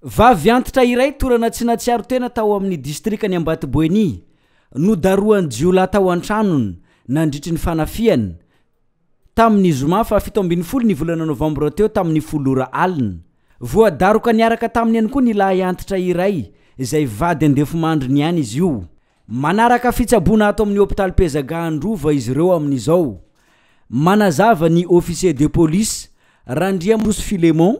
Vavy antitra iray torana tsy natsiaro tena tao amin'ny distrikan'i Ambatoboeny, nodarohan'ny jiolahy tao an-tranony nandritry ny fanafihana, tamin'ny zoma fahafito ambin'ny folo ny volana novambra teo tamin'ny folo ora alina. Voadaroka niaraka taminy ihany koa ny lahy antitra iray izay vady andefimandriny ihany izy io. Manaraka fitsaboana ato amin'ny hopitaly Pezaga Androva izy ireo amin'izao. Manazava ny officier de police, Randriamorosy Philemon,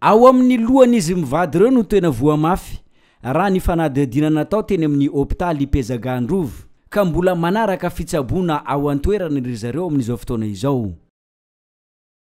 Ao amin'ny lohan'izy mivady ireo no tena voa mafy, raha ny fanadihadiana natao teny amin'ny hopitaly Ipezaga Androvo, ka mbola manaraka fitsaboana ao an-toerana ry zareo amin'izao fotoana izao.